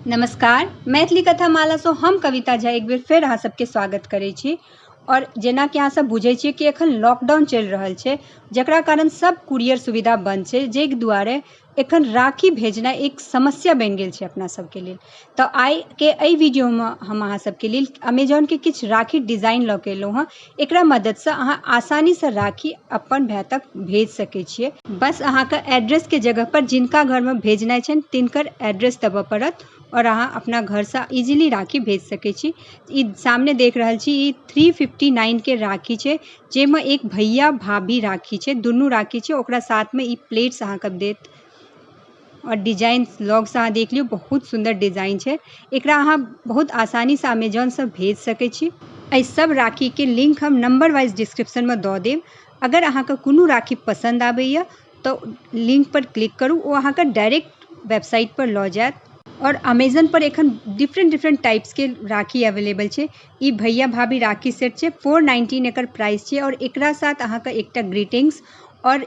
नमस्कार मैथिली कथा मालासँ हम कविता झा एक बेर फेर अहाँ सबके स्वागत करै छी आओर जेना कि अहाँ सब बुझै छियै कि एखन लॉकडाउन चलि रहल छै जकरा कारण सब कुरियर सुविधा बन्द छै जाहि दुआरे एखन राखी भेजनाइ एक समस्या बनि गेल छै अपना सबके लेल तऽ आइके एहि वीडियोमे हम अहाँ सबके लेल अमेजॉनके किछु राखी डिजाइन लऽ कऽ एलहुँ हँ एकरा मददसँ अहाँ आसानीसँ राखी अपन भाय तक भेज सकै छियै। बस अहाँक एड्रेस के जगह पर जिनका घर मे भेजनाय छैन तिनकर एड्रेस देबऽ पड़त और अहाँ अपना घर सँ इजीली राखी भेज सकै छी। ई सामने देख रहल छी ई थ्री फिफ्टी नाइन के राखी छै जे मे एक भैया भाभी राखी छै दुनू राखी छै ओकरा साथ मे ई प्लेट्स अहाँक देत। आओर डिजाइन लगसँ अहाँ देख लियौ बहुत सुन्दर डिजाइन छै एकरा अहाँ बहुत आसानीसँ अमेजोनसँ भेज सकै छी एहि सब राखीके लिंक हम नंबर वाइज डिस्क्रिप्शनमे दऽ देब अगर अहाँके कोनो राखी पसन्द आबैए तऽ लिंकपर क्लिक करू ओ अहाँके डायरेक्ट वेबसाइटपर लऽ जायत आओर अमेजनपर एखन डिफरेंट डिफरेंट टाइप्सके राखी अवेलेबल छै ई भैया भाभी राखी सेट छै फोर नाइन्टीन एकर प्राइस छै आओर एकरा साथ अहाँके एकटा ग्रीटिंग्स आओर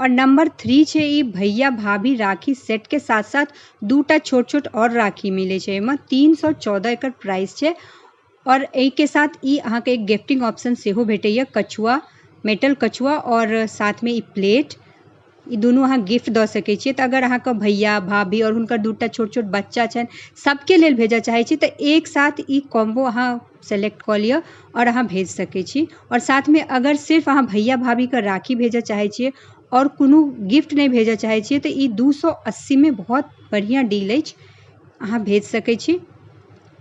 और नंबर थ्री छै ई भैया भाभी राखी सेट के साथ साथ दूटा छोट छोट और राखी मिले छै एहिमे तीन सौ चौदह एकर प्राइस छै और एहि के साथ ई अहाँ के एक गिफ्टिंग ऑप्शन सेहो भेटैया कछुआ मेटल कछुआ और साथ में ई प्लेट ई दुनू अहाँ गिफ्ट दऽ सकै छियै तऽ अगर अहाँके भैया भाभी और हुनकर दूटा छोट छोट बच्चा छनि सबके लेल भेजऽ चाहै छी तऽ एक साथ ई कॉम्बो अहाँ सेलेक्ट कऽ लिअ आओर अहाँ भेज सकै छी आओर साथमे अगर सिर्फ अहाँ भैया भाभीके राखी भेजऽ चाहै छियै आओर कोनो गिफ्ट नहि भेजऽ चाहै छियै तऽ ई दू सए अस्सीमे बहुत बढ़िआँ डील अछि अहाँ भेज सकै छी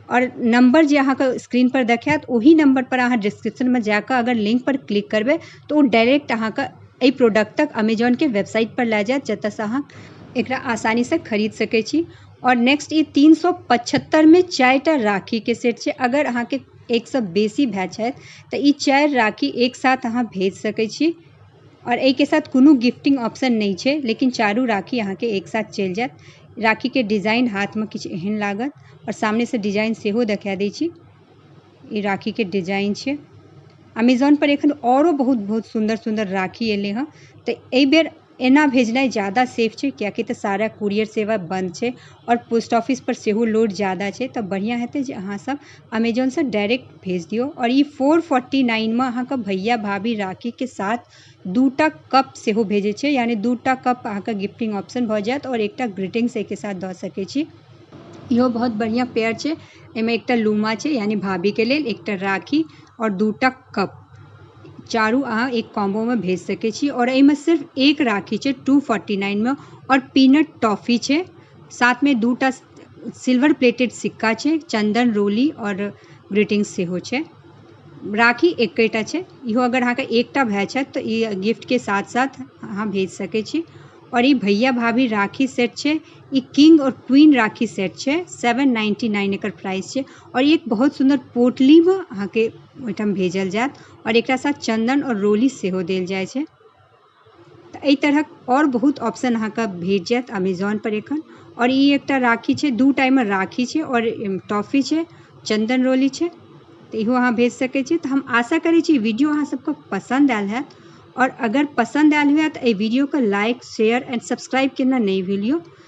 आओर नम्बर जे अहाँके स्क्रीनपर देखायत ओही नम्बरपर अहाँ डिस्क्रिप्शनमे जा कऽ अगर लिंकपर क्लिक करबै तऽ ओ डायरेक्ट अहाँके एहि प्रोडक्ट तक अमेजॉनके वेबसाइटपर लए जायत जतऽसँ अहाँ एकरा आसानीसँ खरीद सकै छी आओर नेक्स्ट ई तीन सए पचहत्तरिमे चारिटा राखीके सेट छै अगर अहाँके एकसँ बेसी भाय छथि तऽ ई चारि राखी एक साथ अहाँ भेज सकै छी आओर एहिके साथ कोनो गिफ्टिंग ऑप्शन नहि छै लेकिन चारू राखी अहाँके एक साथ चलि जायत राखीके डिजाइन हाथमे किछु एहन लागत आओर सामनेसँ डिजाइन सेहो देखा दै छी ई राखीके डिजाइन छै अमेजोनपर एखन आओरो बहुत बहुत सुन्दर सुन्दर राखी एलै हँ तऽ एहिबेर एना भेजनाइ जादा सेफ छै किएकि तऽ सारा कुरियर सेवा बन्द छै आओर पोस्ट ऑफिस पर सेहो लोड जादा छै तऽ बढ़िया हेतै जे अहाँ सब अमेजोन से डायरेक्ट भेज दियौ आओर ई फोर फोर्टी नाइन मे अहाँके भैया भाभी राखी के साथ दूटा कप सेहो भेजै छै यानी दूटा कप अहाँके गिफ्टिंग ऑप्शन भऽ जायत आओर एकटा ग्रीटिंग्स एहिके साथ दऽ सकै छी इहो बहुत बढ़िया पेयर छै एहिमे एकटा लूमा छै यानी भाभी के लेल एकटा राखी आओर दूटा कप चारू अहाँ एक कॉम्बो मे भेज सकै छी आओर एहिमे सिर्फ एक राखी छै टू फोर्टी नाइन मे आओर पीनट टॉफी छै साथ मे दू टा सिल्वर प्लेटेड सिक्का छै चन्दन रोली आओर ग्रीटिंग्स सेहो छै राखी एकेटा छै इहो अगर अहाँके एकटा भाई छथि तऽ ई गिफ्ट के साथ साथ अहाँ भेज सकै छी आओर ई भैया भाभी राखी सेट छै ई किंग आओर क्वीन राखी सेट छै सेवन नाइन्टी नाइन एकर प्राइस छै और ये एक बहुत सुन्दर पोटली में आहां के ओय ठाम भेजल जाएत और एकरा साथ चंदन और रोली से हो देल जाय छै ते ए तरहक और बहुत ऑप्शन आहां के भेट जाएत अमेजॉन पर एखन और इ एकटा राखी छै दू टा ए में राखी छै और ए टॉफी छै चंदन रोली छै ते इहो आहां भेज सके छी ते हम आशा करे छी वीडियो आहां सबके पसंद आएल हाएत और अगर पसंद आएल हुए ते ए वीडियो के लाइक शेयर एंड सब्सक्राइब केना ने भूलियो।